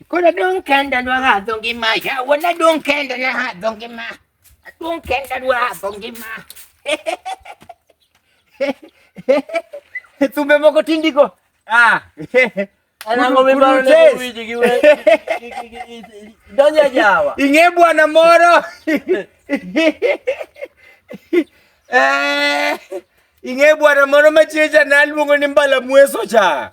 Koro adong' kenda dwa hadho ngima yawa nadong' kenda na hadho ngima adong' kenda dwa hadho ngima thumbe moko tindiko ah. ing'e bwana moro eh, ing'e bwana moro machicha naluongo ni mbala mweso cha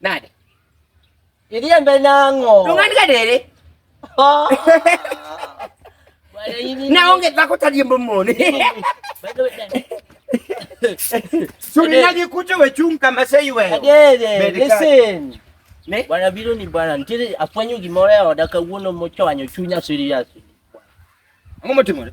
Nade? Iliembe nango. Tungani kadere. Oh. Na onge zako taliembo mone. By the way, Suri nani kute we chunka masai we. Kadere, listen. Ne? Bwana biro ni bwana nitire afwanyo gimoro e oda kawuono mochwanyo chunya serious. Ang'o motimore?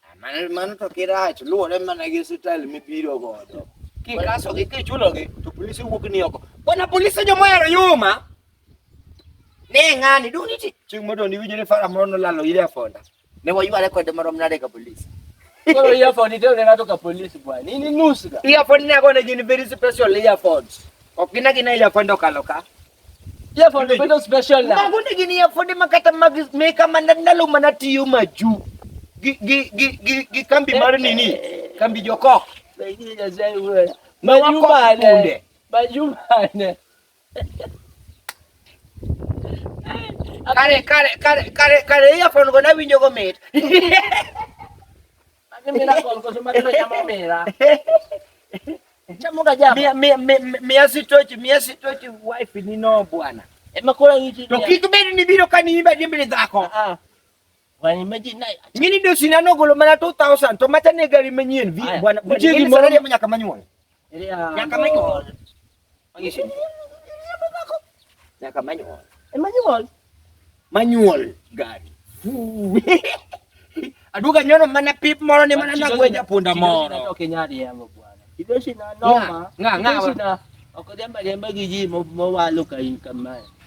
Ah, Mano mano to kirach luwore mana gi style mibiro godo. Kikasogi kichulogi to polisi wuok ni oko. Bwana polisi jomohero yuma. Ne ng'ani dong' niti chieng' mondo niwinjo ni fara moro nolalo ire afonda. Ne wayware kode marom nade ka polisi. Koro earphone iterone ng'ato ka polisi bwana. In inusga. Earphone ne agone gin very special earphones. Ok gin agina earphone okalo ka. Ye for the bedo special na. Mago ni gini ya for the makata mag meka mana ndalo mana tiyo maju. Gi gi gi gi, gi kambi mar eh, nini? Eh. Kambi jokok. Maju bane. Maju bane. Kare kare kare kare kare ya for go na winjo go mit. Mia sitochi, mia sitochi wife ni no bwana. Emakora ngichi. To kik bed ni biro ka ni imba dimbele dhako. Ah. ah. Wani maji na. Ngini do sinano golo mana 2000 to mata ne gari manyien vi bwana. Mchigi mwana mnyaka manyuola. Hindi, ah, Yan kamay ko. manual. Ang isin. Yan kamay ko. Eh, manual. Manual. Gan. Aduga nyono mana pip moro ni mana nagwe ja punda moro. Okay nya dia mo buana. Ito si na no ma. Nga nga. Ito si na. Ako din ba din ba gigi mo mawalo kay kamay.